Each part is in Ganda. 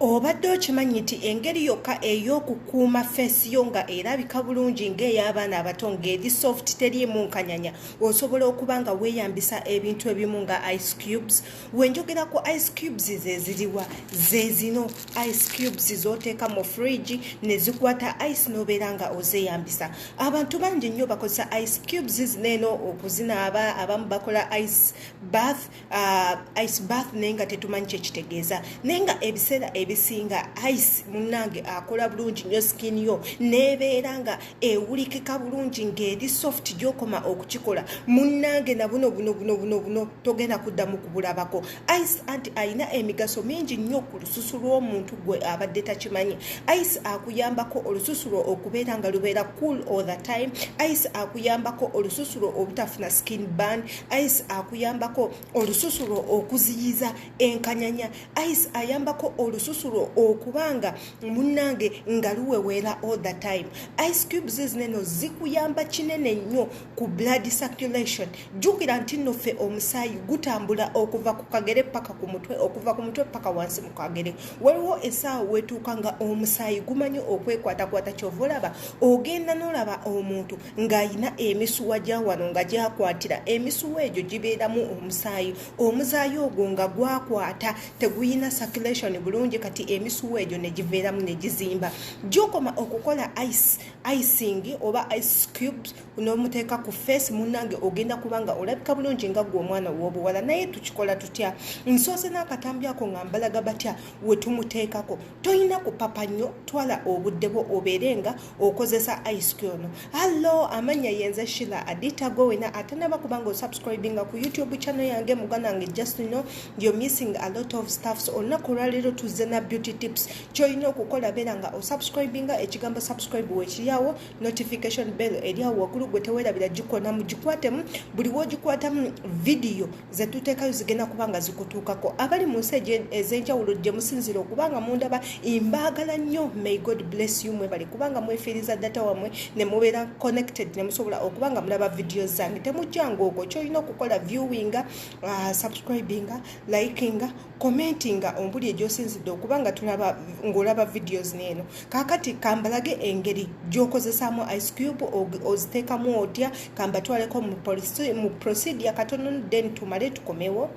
obadde okimanyi nti engeri yokka ey'okukuuma feesi yo nga erabika bulungi ng'ey'abaana abato ng'eri soft teriimu nkanyanya osobola okuba nga weeyambisa ebintu ebimu nga ice cubes wenjogera ku ice cubes ze ziriwa ze zino ice cubes z'oteeka mu fridge ne zikwata ice n'obeera nga ozeeyambisa abantu bangi nnyo bakozesa ice cubes zineeno okuzinaaba abamu bakola ice bath Uh, ice bath naye nga tetumanyi kyekitegeeza naye nga ebiseera ebisinga ice munange akola bulungi nyo skin yo nebeera nga ewulikika bulungi ngaeri soft gyokoma okukikola munange nabuno buno buno buno buno togenda kuddamu kubulabako ice anti alina emigaso mingi nnyo ku lususu lw'omuntu gwe abadde takimanyi ice akuyambako olususu lwo okubeera nga lubeera cool all the time ice akuyambako olususu lwo obutafuna skin band ice akuyambako olususu lwo okuziyiza enkanyanya ice ayambako olususu lwo okuba nga munnange nga luweweera all the time ice cubes zineno zikuyamba kinene nnyo ku blood circulation jjukira nti nno ffe omusaayi gutambula okuva ku kagere paka ku mutwe okuva ku mutwe paka wansi mu kagere waliwo esaawa wetuuka nga omusaayi gumanyi okwekwatakwata kyova olaba ogenda nolaba omuntu ng'alina emisuwa gya wano nga gyakwatira emisuwa egyo gibeeramu omusaayi omuzaayi ogwo nga gwakwata teguyina circulation bulungi kati emisuwa egyo ne giveeramu ne gizimba gyokoma okukola ice icing oba ice cubes n'omuteeka ku face munnange ogenda kuba nga olabika bulungi nga gwe omwana w'obuwala naye tukikola tutya nsoose n'akatambi ako nga mbalaga batya we tumuteekako tolina kupapa nnyo twala obudde bwo obeere nga okozesa ice ono allo amanya yenze shila adita gwe wena atanaba kubanga osubscribinga ku youtube channel yange muganda wange just know you're missing a lot of staffs olunaku olwaleero tuzze na beauty tips kyolina okukola beera nga osubscribinga ekigambo subscribe wekiryawo notification bell eryawo waggulu gwe tewerabira gikonamu gikwatemu buli wogikwatamu vidiyo ze tuteekayo zigenda kuba nga zikutuukako abali mu nsi ez'enjawulo gye musinzira okubanga mundaba mbaagala nnyo may god bless you mwebale kubanga mwefiiriza data wammwe ne mubeera connected ne musobola okuba nga mulaba vidiyo zange temujjanga okwo kyolina okukola viewinga uh, subscribinga likinga komenti nga ombuli egyosinzidde okuba nga tulaba ng'olaba videos neeno kakati kambalage engeri gyokozesaamu ice cube oziteekamu otya kambatwaleko mu procedure katono then tumale tukomewo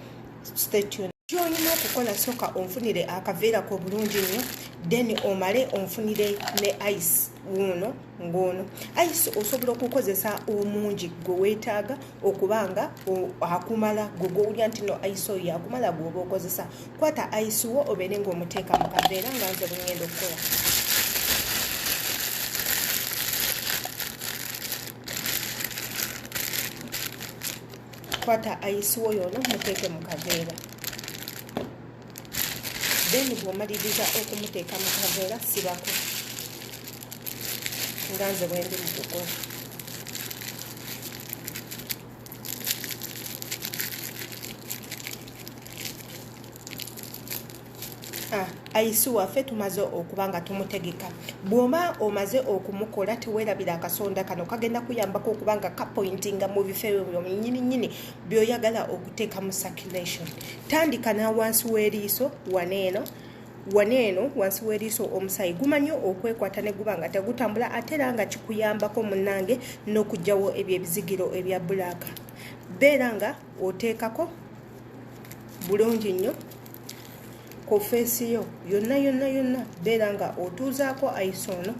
statun kyolina okukola soka onfunire akaveera kobulungi nnyo then omale onfunire ne ice wuuno ng'ono ayise osobola okukozesa omungi gwe weetaaga okuba nga akumala gwe gwowulira nti no ayise oyo yakumala gweoba okozesa kwata ayise wo obeere ng'omuteeka mu kaveera nga nze bwengenda okukola kwata ayise wo yoono muteeke mu kaveera then bwomaliriza okumuteeka mu kaveera sibako nga nze bwendi mu kukola ayisi waffe tumaze okuba nga tumutegeka bw'oba omaze okumukola teweerabira akasonda kano kagenda kuyambako okuba nga kapointinga mu bifo ebyo byonyini nyini byoyagala okuteeka mu circulation tandika nawansi w'eriiso waneeno wano eno wansi w'eriiso omusaayi gumanyi okwekwata ne guba nga tegutambula ate era nga kikuyambako munnange n'okugyawo ebyo ebizigiro ebya bulaaka beera nga oteekako bulungi nnyo ku feesi yo yonna yonna yonna beera nga otuuzaako ayiso ono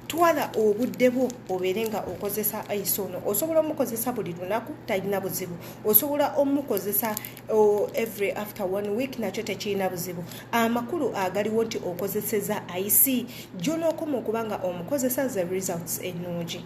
twala obudde bwo obeere nga okozesa ice ono osobola omukozesa buli lunaku talina buzibu osobola omukozesa every after one week nakyo tekirina buzibu amakulu agaliwo nti okozeseza ice gyonookoma okuba nga omukozesa the results ennungi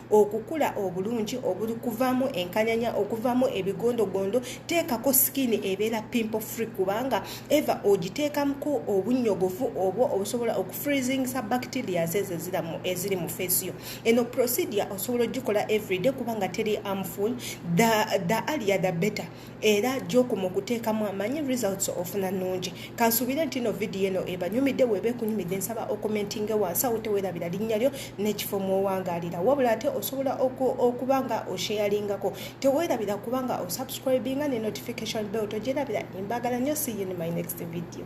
okukula obulungi obuli kuvamu enkanyanya okuvamu ebigondogondo teekako sikini ebeera pimpo free kubanga eva ogiteekamuko obunnyogovu obwo obusobola okufreezingisa bacterias ezo eziri mu feesi yo eno procedure osobola ogikola everyday kubanga teri amful the, the alia the better era jokumu okuteekamu amanyi results ofuna nungi kansuubire nti no vidiyo eno ebanyumidde weeba ekunyumidde nsaba okomentinge wansi awo tewerabira linnya lyo n'ekifo mwowangaalira wabula ate osobola okuba nga osheyalingako tewerabira kuba nga osubscribinga ne notification bell togyerabira embagala nyo see you in my next video